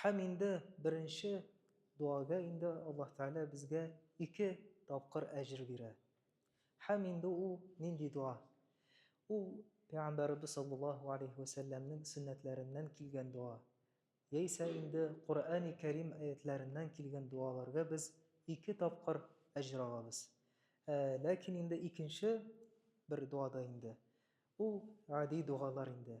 Һәм инде беренче дуага инде Аллаһ Тәгалә безгә ике тапкыр әҗер бирә. Һәм инде ул нинди дуа? Ул Пәйгамбәребез саллаллаһу галәйһи вә сәлләмнең сөннәтләреннән килгән дуа. Яисә инде Коръәни Кәрим аятьләреннән килгән дуаларга без ике тапкыр әҗер алабыз. Ә ләкин инде икенче бер дуада инде ул гади дуалар инде.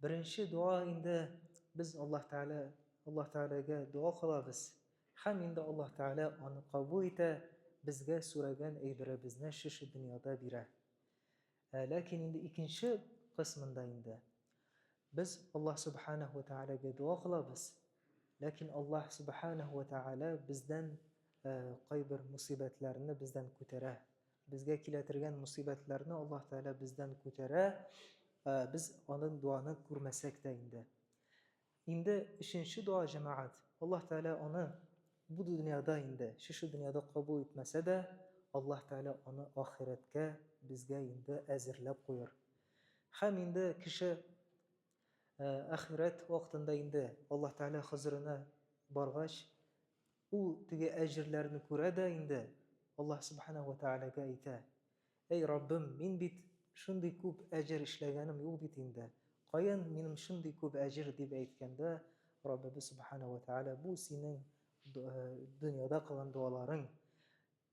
Беренче дуа инде без Аллаһ Тәгалә Аллаһ Тәгаләгә дуа кылабыз. Һәм инде Аллаһ Тәгалә аны кабул итә, безгә сораган әйберебезне шушы дөньяда бирә. Ә ләкин инде икенче кысмында инде без Аллаһ Субханәһу ва Тәгаләгә дуа кылабыз. Ләкин Аллаһ Субханәһу ва Тәгалә бездән кайбер мусибәтләрне бездән күтәрә. Безгә килә тергән мусыйбәтләрне Аллаһ Тәгалә бездән күтәрә, без аның дуаны күрмәсәк тә инде. Инде өченче дуа җәмәгать. Аллаһ Тәгалә аны бу дөньяда инде, шушы дөньяда кабул итмәсә дә, Аллаһ Тәгалә аны ахирәткә безгә инде әзерләп куер. Һәм инде кеше ахирәт вакытында инде Аллаһ Тәгалә хозурына баргач, Ул теге әҗерләрне күрә дә инде Аллаһ Сүбхәнәһү вә Тәгаләгә әйтә, Әй Раббым, мин бит шундый күп әҗер эшләгәнем юк бит инде, каян минем шундый күп әҗер, дип әйткәндә, Раббыбыз Сүбхәнәһү вә Тәгалә, бу синең дөньяда кылган дуаларың,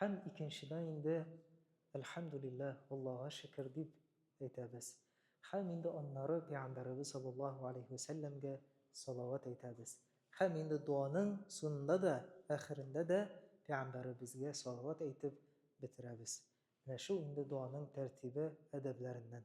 Һәм икенчедән инде, Әлхәмдүлилләһ, Аллага шөкер, дип әйтәбез. Һәм инде аннары Пәйгамбәребез саллаллаһу галәйһи вә сәлләмгә салават әйтәбез. Һәм инде дуаның сунында да, әхерендә дә Пәйгамбәребезгә салават әйтеп бетерәбез. Менә шул инде дуаның тәртибе, әдәбләреннән.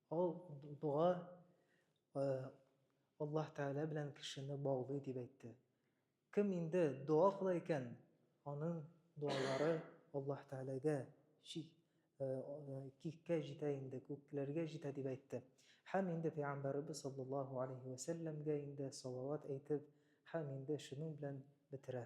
Ул дуга Аллаһ Тәгалә белән кешене баулый дип әйтте. Кем инде дуа кыла икән, аның дуалары Аллаһ Тәгаләгә киккә җитә инде, күкләргә җитә дип әйтте. Һәм инде Пәйгамбәребез саллаллаһу алейһи вә сәлләмгә инде салават әйтеп, һәм инде шуның белән бетерә.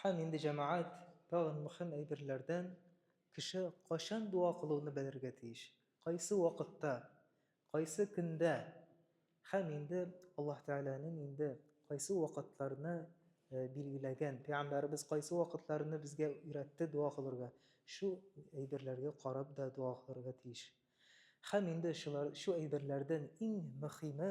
Һәм инде, җәмәгать, тагын мөһим әйберләрдән, кеше кайчан дуа кылуны белергә тиеш, кайсы вакытта, кайсы көндә, һәм инде Аллаһ Тәгаләнең инде кайсы вакытларны билгеләгән, пәйгамбәребез кайсы вакытларны безгә өйрәтте дуа кылырга, шу әйберләргә карап да дуа кылырга тиеш. Һәм инде шулар, шу әйберләрдән иң мөхиме,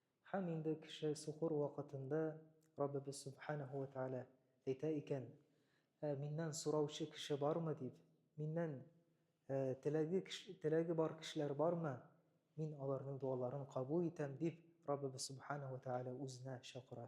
Һәм инде кеше сукыр вакытында Раббыбыз Сөбханәһү вә Тәгалә әйтә икән, Ә Миннән сораучы кеше бармы? дип, Миннән теләге теләге бар кешеләр бармы? Мин аларның дуаларын кабул итәм, дип, Раббыбыз Сөбханәһү вә Тәгалә Үзенә чакыра.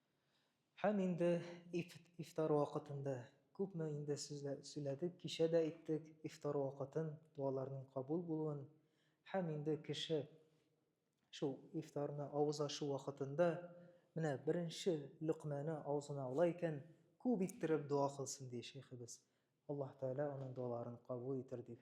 Һәм инде ифтар вакытында, күпме инде сүләдек, кичә дә әйттек, ифтар вакытын, дуаларның кабул булуын, һәм инде кеше шул ифтарны авыз ачу вакытында, менә беренче лөкмәне авызына ала икән, күп иттереп дуа кылсын, ди шәйхебез. Аллаһ Тәгалә аның дуаларын кабул итер, дип.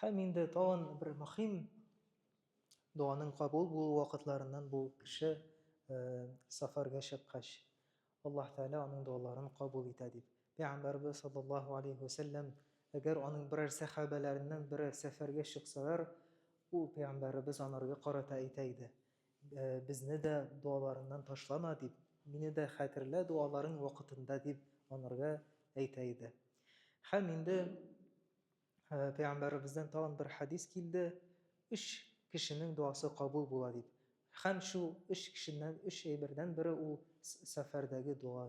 Һәм инде тагын бер мөһим дуаның кабул булу вакытларыннан бу кеше сафарга чыккач, Аллаһ Тәгалә аның дуаларын кабул итә дип. Пәйгамбәрбез саллаллаһу алейхи ва сәлләм, әгәр аның берәр сәхабәләреннән берәр сәфәргә чыксалар, ул пәйгамбәрбез анарга карата әйтә иде. Безне дә дуаларыңнан ташлама, дип, мине дә хәтерлә дуаларың вакытында, дип анарга әйтә иде. Һәм инде Пәйгамбәребездән тагын бер хәдис килде, өч кешенең дуасы кабул була дип. Һәм шул өч кешеннән, өч әйбердән бере ул сәфәрдәге дуа.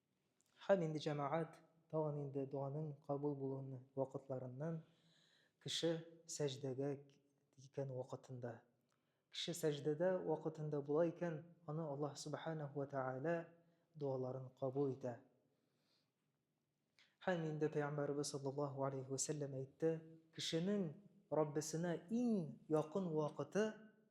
Һәм инде җәмәгать тагын инде дуаның кабул булуын вакытларыннан кеше сәҗдәгә киткән вакытында. Кеше сәҗдәдә вакытында була икән, аны Аллаһ Субханәһу ва Тәгалә дуаларын кабул итә. Һәм инде Пәйгамбәрбез саллаллаһу алейхи ва сәлләм әйтте, кешенең Раббисенә иң якын вакыты